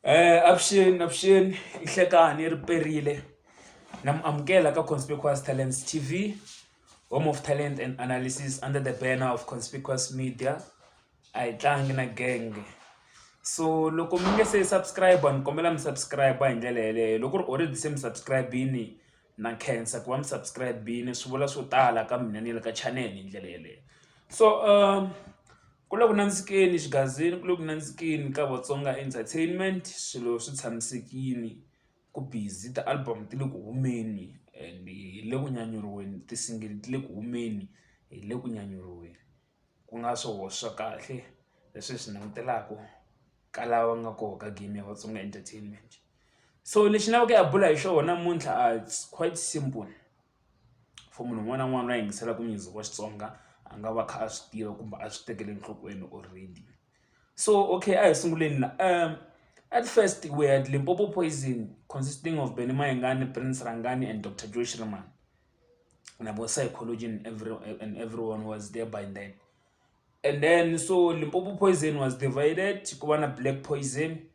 Avuxeni avuxeni i Hlekani ri perile na mi amukela ka Conspicuous Talents T_V home of talent and analysis under the banner of Conspicuous Media a hi tlangi na genge so loko mi nge se subscribe ni kombela mi subscribe hi ndlela yeleyo loko ku ri already se mi subscribe-ini na khensa ku va mi subscribe-ini swi vula swo tala ka mina ni le ka channel hi ndlela yeleyo so . Ku le ku nandzikeni exigazini ku le ku nandzikeni ka Vatsonga Entertainment swilo swi tshamisekile ku busy ti-album ti le ku humeni and hi le ku nyanyuriweni ti-single ti le ku humeni hi le ku nyanyuriweni ku nga swo swa kahle leswi hi swi langutelaka ka lava nga kona ka game ya Vatsonga Entertainment so lexi ni lavaka ku ya bula hi xona namuntlha it's quite simple. for munhu un'wana na un'wana loyi a yingiselaka music wa Xitsonga a nga va kha a swi tiva kumbe a swi tekela enhlokweni already so okay a hi sunguleni la at first we had Limpopo Poison consisting of Benny Mayengani, Prince Rhangani and Doctor Joe Shirimani na vo Psychology and every and everyone was there by then and then so Limpopo Poison was divided ku va na Black Poison.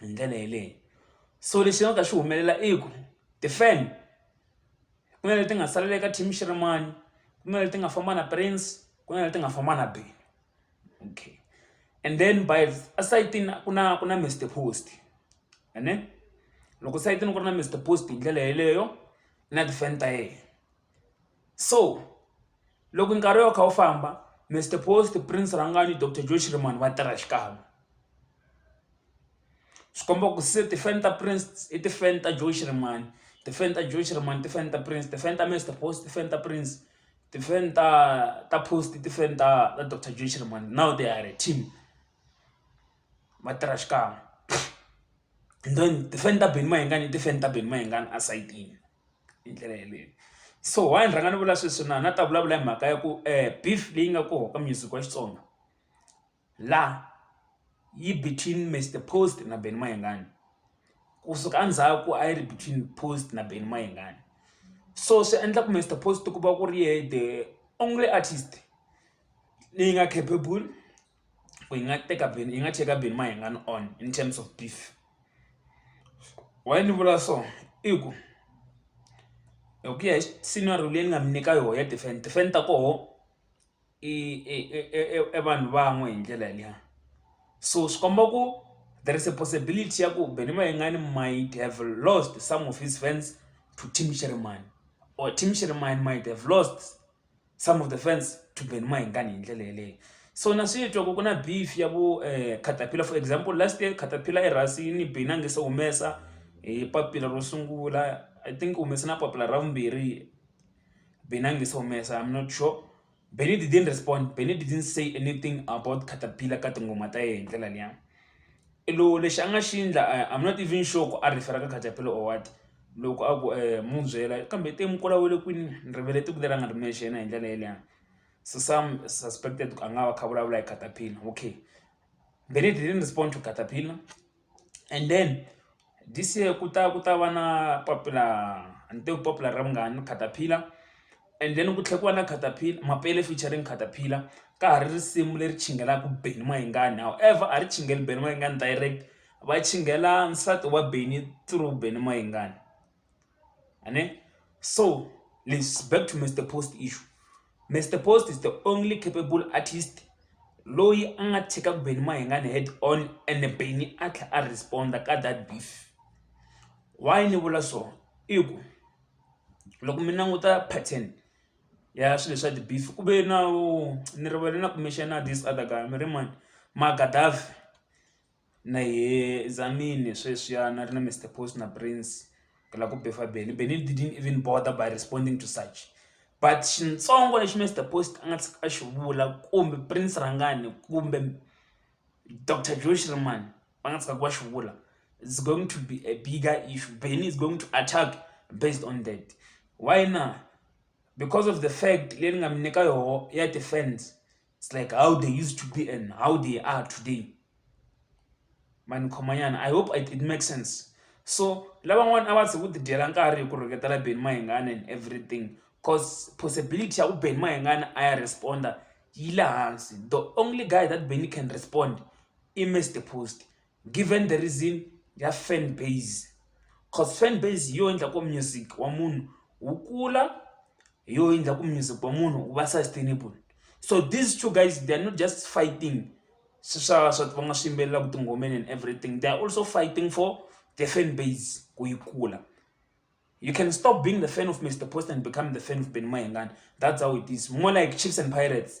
hi ndlela yeleyo so lexi nga ka xi humelela i ku ti-fan ku na leti nga salela eka team Xirhemani ku na leti nga famba na Prince ku na leti nga famba na Benny okay and then by esayitini ku na ku na Mister Post ene loko sayitini ku ri na Mister Post hi ndlela yeleyo na ti-fan ta yena. so loko nkarhi wu ya wu kha wu famba Mister Post Prince Rhangani Doctor Joe Shirimani va tirha xikan'we swi komba ku se tifeme ta Prince i tifeme ta Joe Shirimani tifeme ta Joe Shirimani tifeme ta Prince tifeme ta Mister Post tifeme ta Prince tifeme ta ta Post tifeme ta ta Doctor Joe Shirimani now they are a team va tirha xikan'we then tifeme ta Benny Mayengani i tifeme ta Benny Mayengani esayitini. hi ndlela yeleyo so why ni rhanga ni vula sweswi na na ta vulavula hi mhaka ya ku um beef leyi nga koho ka music wa Xitsonga la yi between Mister Post na Benny Mayengani kusuka endzhaku a yi ri between Post na Benny Mayengani so swi endla ku Mister Post ku va ku ri yehe the only artist leyi nga capable ku hi nga teka Benny hi nga cheka Benny Mayengani on in terms of beef why ni vula so i ku hi ku ya hi scenario leyi ni nga mi nyika yona ya defend defend ta koho i i vanhu van'we hi ndlela liya so swi komba ku there is a possibility ya ku Benny Mayengani might have lost some of his fans to Tim Sherman or Tim Sherman might have lost some of the fans to Ben Maingani hi ndlela yeleyo so na swi twa ku ku na beef ya vu eh, caterpillar for example last year caterpillar erhasini bini a nge se humesa hi eh, papila ro sungula i think humese na papila ra vumbirhi bini a nge se humesa i'm not sure Benny didn't respond. Benny didn't say anything about Caterpillar ka tingoma ta yena hi ndlela liya. I lo lexi a nga xi endla I'm not even sure ku a refer-a ka caterpillar or what loko a ku mu byela kambe teng mukula wele kwini ni rivele tiko leri a nga ri mexe yena hi ndlela yeliya so some suspected ku a nga va kha a vulavula hi caterpillar okay then he didn't respond to caterpillar and then This year ku ta ku ta va na popular a ni teku popular ra vungani ni caterpillar and then ku tlhela ku va na caterpillar Mapele featuring caterpillar ka ha ri risimu leri chinghelaka Benny Mayengani however a ri chinghela Benny Mayengani direct va chinghela nsati wa Benny through Benny Mayengani. Ane? So, let's back to Mr. Post issue. Mr. Post is the only capable artist loyi a nga tshika ku Benny Mahingane head on and Benny a tlha a responda ka that beef. Why ni vula so? I ku loko mi languta pattern ya swilo swa ti-beef ku ve na ni rivele na kumbexana this other guy mi ri mani Magadaf Na yeh Zamini sweswiya na ri na Mister Post na Prince hi la ku befa Benny, Benny didn't even bother by responding to such but xitsongo lexi Mister Post a nga tshika a xi vula kumbe Prince Rhangani kumbe Doctor Joe Shirimani va nga tshikaka va xi vula is going to be a bigger issue, Benny is going to attack based on that why na because of the fact leyi ni nga mi nyika yoho ya ti-fans. It's like how they used to be and how they are today. Man Komayan, I hope it, it makes sense. So, lavan'wana a va ze ku ti dyela nkarhi hi ku rhuketela Ben Mahingana and everything because possibility ya ku Ben Mahingana a ya responda yi le hansi. The only guy that Benny can respond i Mr Post. Given the reason ya fan base cause fan base hi yo endla ku music wa munhu wu kula hi yo endla ku music wa munhu wu va sustainable so these two guys they are not just fighting swa swa va nga swi yimbelelaka tingomeni and everything they are also fighting for the fan base ku yi kula you can stop being the fan of mr post and become the fan of ben mayengani that's how it is more like chiefs and pirates